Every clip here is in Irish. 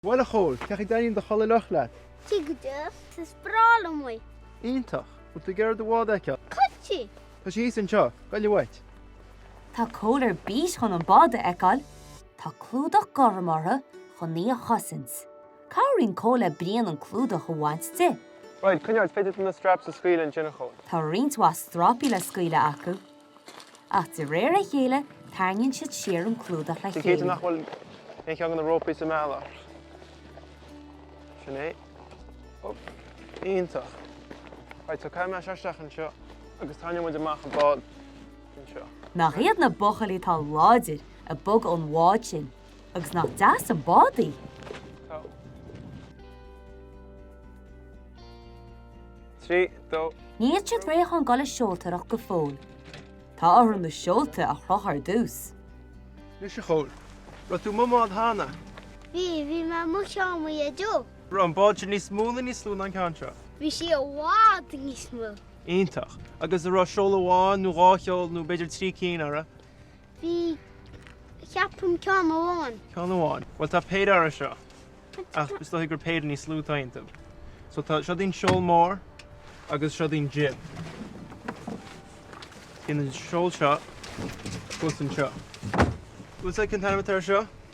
Bhuel a Chóil, cén chaoi a dtaitníonn do chulaith fhliuch leat? Tá sí go deas, is breá liom í. Iontach! Bhfuil tú ag iarraidh do bhád a fheiceáil? Cinnte! Tá sí thíos anseo. Goile uait. Tá Cóil ar bís chun an bád a fheiceáil. Tá clúdach gorm uirthi chun í a chosaint. Cabhraíonn Cóil le Brian an clúdach a bhaint di. Right, coinneoidh, féadfaidh tú na straps a scaoileadh ansin a Chóil. Tá roinnt mhaith strapaí le scaoileadh acu. Ach de réir a chéile, tarraingíonn siad siar an clúdach le chéile. Bí cinnte nach bhfuil aon cheann de na rópaí sa mbealach. Sin é. Oop. Iontach. Right, so caithfidh mé seo isteach anseo agus tarraingeoidh muid amach an bád anseo. Nach iad na buachaillí atá láidir ag bogadh an bháid sin agus nach deas an bád í? Tá. 3, 2. Níl siad réidh chun dul ag seoltóireacht go fóill. Tá orthu na seolta a chrochadh ar dtús. Anois a Chóil, raibh tú i mbád cheana? Bhí, bhí mé i mbád mo Dhaideo. Raibh an bád sin níos mó nó níos lú ná an ceann seo? Bhí sí i bhfad níos mó. Iontach. Agus a' raibh seol amháin nó dhá sheol nó b'fhéidir trí cinn uirthi? Bhí, ceapaim, ceann amháin. Ceann amháin. Bhuel, tá péire uirthi seo, ach is dóiche gur péire níos lú atá iontu. So tá, seod é an seol mór agus seod é an jib. Bíonn an seol seo thuas anseo. Bhfuil a fhios agat cén t-ainm atá air seo?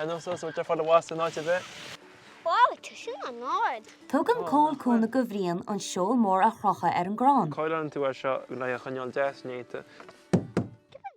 Ar nós ós bhfuil tada i bhfastó in áit ar bith. Wow, tá sin an-ard! Tugann Cóil cúnamh do Bhrian an seol mór a chrochadh ar an gcrann. Coileálann tú é seo le é a choinneáil deas néata.